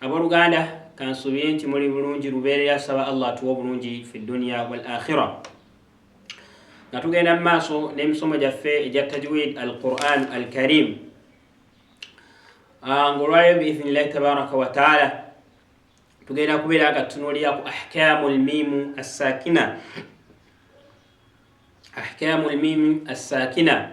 Aboluganda kansuubire nti muli bulungi lubeerera saba Allah atuwa obulungi fi dduniya wal akhira. Nga tugenda mu maaso n'emisomo gyaffe egya tajwid al Quran al Karim ah, ng'olwaleero biidhinillahi tabaraka wa taala tugenda kubeera nga tutunuulira ku ahkamu lmiimu assaakina ahkamu lmiimu assaakina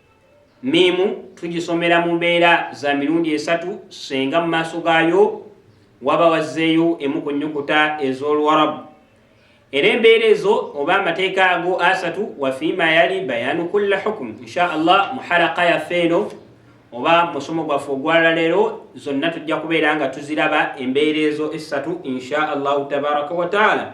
Miimu tugisomera mu mbeera za mirundi esatu, senga mu maaso gaayo waba wazzeeyo emu ku nnyukuta ez'oluwarabu era embeera ezo oba amateeka ago asatu wafiima yali bayaanu kulla hukumu insha allah muhalaka yaffe eno oba musomo gwaffe ogwalalero zonna tujja kubeera nga tuziraba embeera ezo essatu insha allahu tabaraka wataala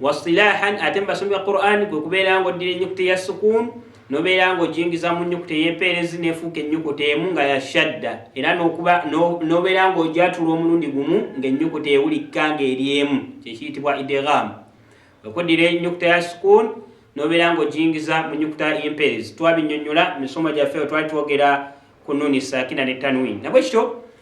wasilahan ate mubasomi ba quran kwe kubeera nga oddira enyukuta eya sukuun nobeera nga ojingiza mu nyukuta eyempeerezi nefuuka enyukuta emu nga yashadda era nobeera nga ojatula omulundi gumu ngaenyukuta ewulikka nga eri emu kyekiyitibwa idegham okuddira enyukuta ya sukuun nobeera nga ojingiza mu nyukuta yempeerezi twabinyonyola misomo gyaffe wetwali twogera ku nuni sakina ne tanwin nabwe kityo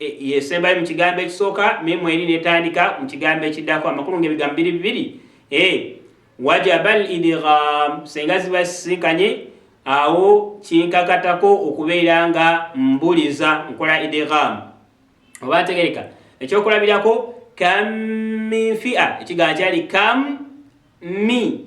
E, yesembayo mu kigambo ekisooka memu eri netandika mu kigambo ekiddako amakulu ngaebigambo biri bibiri e, wajaba al idgham senga ziba zisisinkanye awo kinkakatako okubeera nga mbuliza nkola idgham oba ategereka ekyokulabirako kam min fia ekigambo kyali kam mi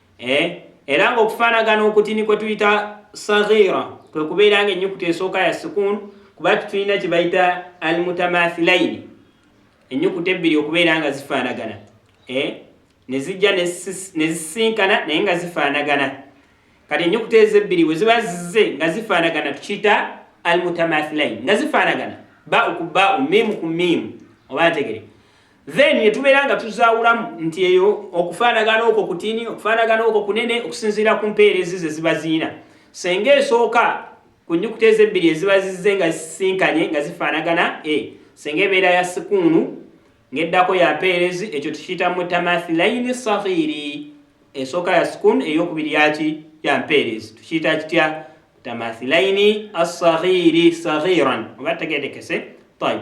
eh? era ng'okufaanagana okutini kwe tuyita sagira kwe kubeera nga ennyukuta esooka ya sukuun kuba tulina kye bayita almutamathilaini ennyukuta ebbiri okubeera nga zifaanagana eh? ne zijja ne zisinkana naye nga zifaanagana kati ennyukuta ezo ebbiri bwe ziba zize nga zifaanagana tukiyita almutamathilaini nga zifaanagana ba ku ba miimu ku miimu oba ntegere then netubeera nga tuzaawulamu nti eyo okufaanagana okwo kutini okufaanagana okwo kunene okusinziira ku mpeera ezi ze ziba ziina senga esooka ku nyukuta ezo ebbiri eziba zizze nga zisinkanye nga zifaanagana e senga ebeera ya sikuunu ng'eddako ya mpeerezi ekyo tukiyita mutamathilaini sahiiri esooka ya sikuunu eyokubiri yaki ya mpeerezi tukiyita kitya mutamathilaini assahiiri sahiiran oba tegeetekese tayib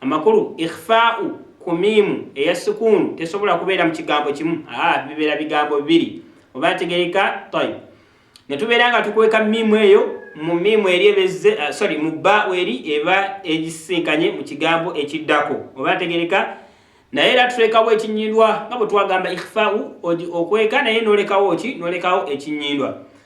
Amakulu, Ikhfaa'u ku miimu eya sukuunu tesobola kubeera mu kigambo kimu, aa, bibeera bigambo bibiri. Oba ntegereka? Tayyib. Ne tubeera nga tukweka miimu eyo mu miimu eri eba ezze, uh, sorry, mu bbaa'u eri eba egisisinkanye mu kigambo ekiddako. Oba ntegereka? Naye era tulekawo ekinyindwa nga bwe twagamba ikhfaa'u, okweka naye n'olekawo ki? N'olekawo ekinyindwa.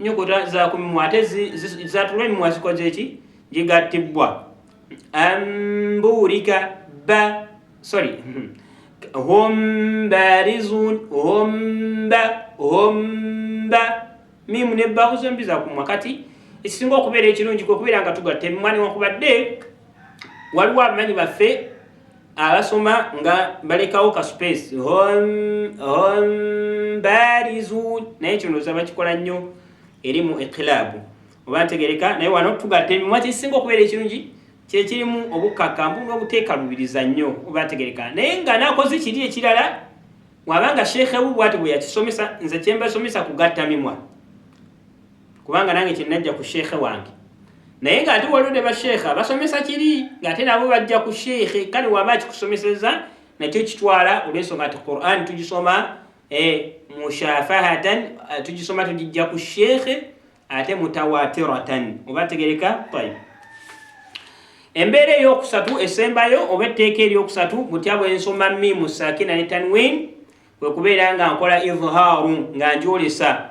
nyukuta za ku mimwa ate zatula emimwa zikoze ki gigattibwa ambuulika ba sorry hum barizun humba humba mimu ne bahu zombi za kumwa kati ekisinga okubeera ekirungi kwekubeera nga tugatta emimwa newankubadde waliwo abamanyi baffe abasoma nga balekawo ka space barizu naye kino oza bakikola nnyo eri mu ekilabu oba ntegereka naye wano tugatta emimwa kyekisinga okubeera ekirungi kyekirimu obukkakambu n'obuteekalubiriza nnyo oba ntegereka naye nga nakoze kiri ekirala wabanga sheekhe wu bwati bwe yakisomesa nze kyembasomesa kugatta mimwa kubanga nange kyenajja ku sheikhe wange naye nga ate waliwo ne basheikha basomesa kiri nga ate nabo bajja ku sheikhe kale waba akikusomeseza nakyo kitwala olwensonga nti quran tugisoma eh, mushafahatan eh, tugisoma tugijja ku sheikhe ate mutawatiratan oba tegereka tayib embeera eyokusatu esembayo oba etteeka eryokusatu butya bwensoma mimu sakina ne tanwin kwekubeera nga nkola idhaaru nga njolesa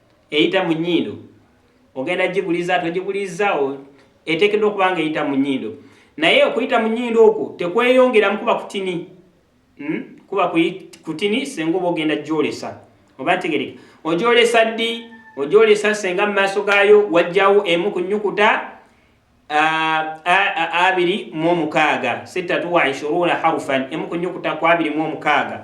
eyita mu nnyindo ogenda giguliza togiguliza eteekeddwa okuba nga eyita mu nnyindo naye okuyita mu nnyindo okwo tekweyongeramu kuba kutini hmm? kuba kutini senga oba ogenda gyolesa oba tegereka ogyolesa ddi ogyolesa senga mu maaso gaayo wajjawo emu ku nnyukuta abiri mu omukaaga sittatu wa ishuruuna harufan emu ku nnyukuta ku abiri mu omukaaga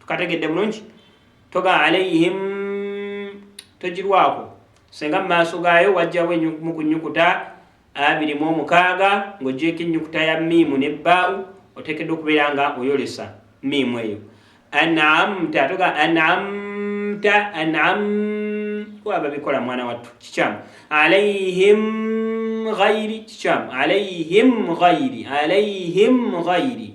tukategedde bulungi toga alaihim togirwako senga mumaaso gaayo wajjawo mu kunyukuta abiri mu omukaaga ng'ogyeko ennyukuta ya miimu ne bbaau oteekeddwa okubeera nga oyolesa miimu eyo anamta toga anamta anam waba bikola mwana wattu kikyamu alaihim ghairi kikyamu alaihim ghairi alaihim ghairi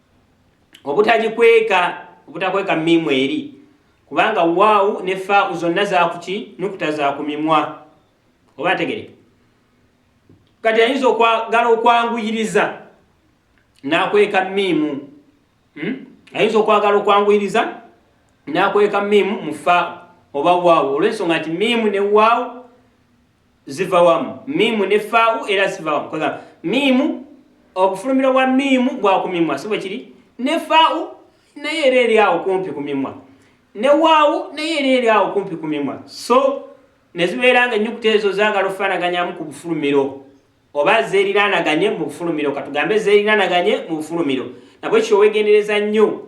obutagikweka obutakweka miimu eri kubanga waawu ne faau zonna zakuki nukuta za ku mimwa oba ategereka kati ayinza okwagala okwanguyiriza nakweka miimu hmm? ayinza okwagala okwanguyiriza nakweka miimu mu faau oba waawu olwensonga nti miimu ne waawu ziva wamu miimu ne faawu era ziva wamu kwegamba miimu obufulumiro bwa miimu bwa ku mimwa si bwe kiri ne faawu naye era eri awo kumpi ku mimwa ne waawu naye era eri awo kumpi ku mimwa so ne zibeera nga ennyukuta ezo zaagala okufaanaganyamu ku bufulumiro oba zeeriraanaganye mu bufulumiro katugambe zeeriraanaganye mu bufulumiro nabwe kyowegendereza nnyo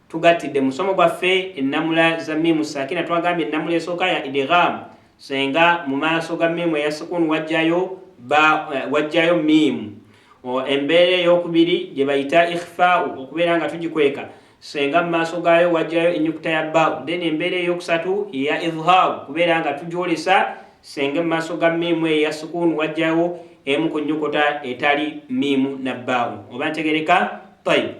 Tugattidde musomo gwaffe ennamula za miimu sakina twagambye ennamula esooka ya idigham senga mu maaso ga miimu eya sukun wajjayo ba eh, wajjayo miimu embeera eyokubiri gye bayita ikhfau okubeera nga tugikweka senga mu maaso gaayo wajjayo enyukuta ya bau then embeera eyokusatu ya idhhar kubeera nga tugyolesa senga mu maaso ga miimu eya sukun wajjayo emu ku nyukuta etali miimu na bau oba ntegereka tayib